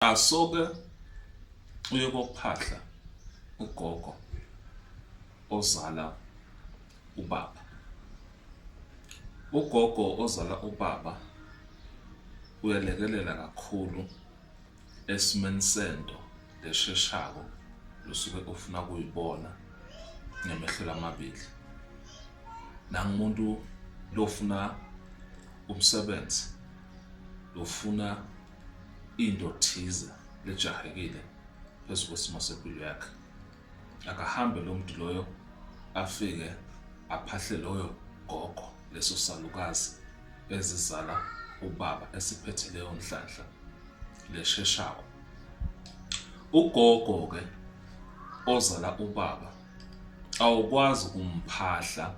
asoke uye kokuphahla ugogo ozala ubaba ugogo ozala ubaba uyalekelela kakhulu esimeni sento lesheshako lusuke ufuna kuyibona ngemehlo lamabili nangumuntu lofuna umsebenzi lofuna into thize lejahekile phezu kwesimo sempilo yakhe akahambe lo muntu loyo afike aphahle loyo gogo leso salukazi ezizala ubaba esiphethe leyo nhlanhla lesheshawo ugogo ke ozala ubaba awukwazi kumphahla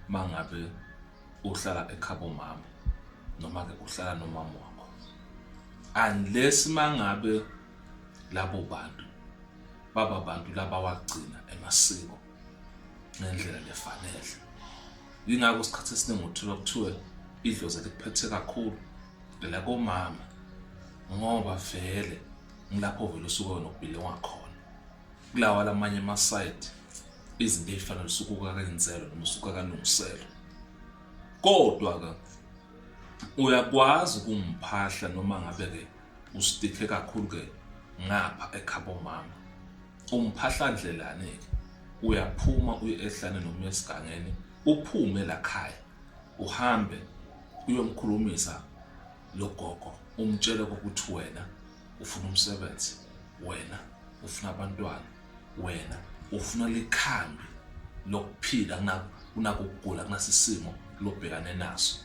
mangabe uhlala ekhabo mama noma ke uhlala nomama wakho unless mangabe labo bantu baba bantu laba wagcina emasiko ngendlela lefanele yingakho isikhathi esiningi uthola kuthiwe idlozi likuphethe kakhulu la komama ngoba vele ngilapho vele usuke wena ubhile wakhona kulawa lamanye ama-side izinto ey'fana lusukuka kenzelo noma usuka kalungiselo kodwa-ke uyakwazi ukumphahla noma ngabe-ke usitike kakhulu-ke ngapha ekhabo mama umphahla ndlelane-ke uyaphuma uye ehlane noma esigangeni uphume lakhaya uhambe uyomkhulumisa logogo umtshele ukuthi wena ufuna umsebenzi wena ufuna abantwana wena ufuna likhambi lokuphila kunako ukugula kunasisimo lobhekane naso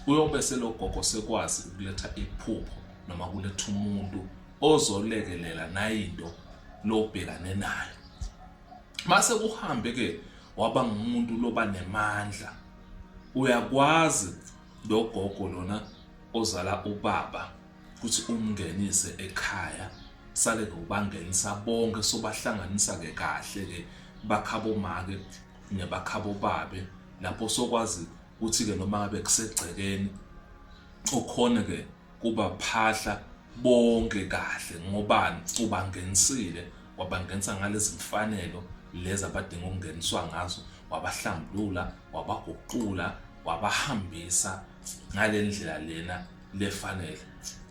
uyobe selogogo sekwazi ukuletha iphupho noma kuletha umuntu ozolekelela nayinto lobhekane nayo mase kuhambe ke waba ngumuntu loba nemandla uyakwazi logogo lona ozala ubaba ukuthi umngenise ekhaya sale ngokubangenisa bonke sobahlanganisa ke kahle ke bakhabo make nebakhabo babe lapho sokwazi ukuthi ke noma ngabe kusegcekeni okhona ke kuba phahla bonke kahle ngobani ubangenisile wabangenisa ngalezi mfanelo lezi abadinga ukungeniswa ngazo wabahlambulula wabaguqula wabahambisa ngalendlela lena lefanele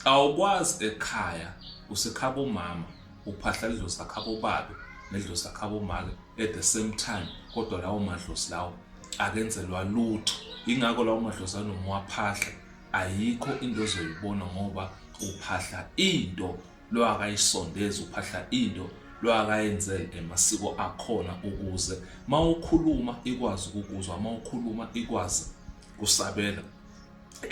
awukwazi ekhaya usekhaba umama uphahla idlozi lakhaba ubabe nedlozi lakhaba umake at the same time kodwa lawo madlozi lawo akenzelwa lutho ingakho lawo madlozi anomwaphahla ayikho into ozoyibona ngoba uphahla into lo akayisondezi uphahla into lo akayenzele emasiko akhona ukuze mawukhuluma ikwazi ukukuzwa mawukhuluma ikwazi kusabela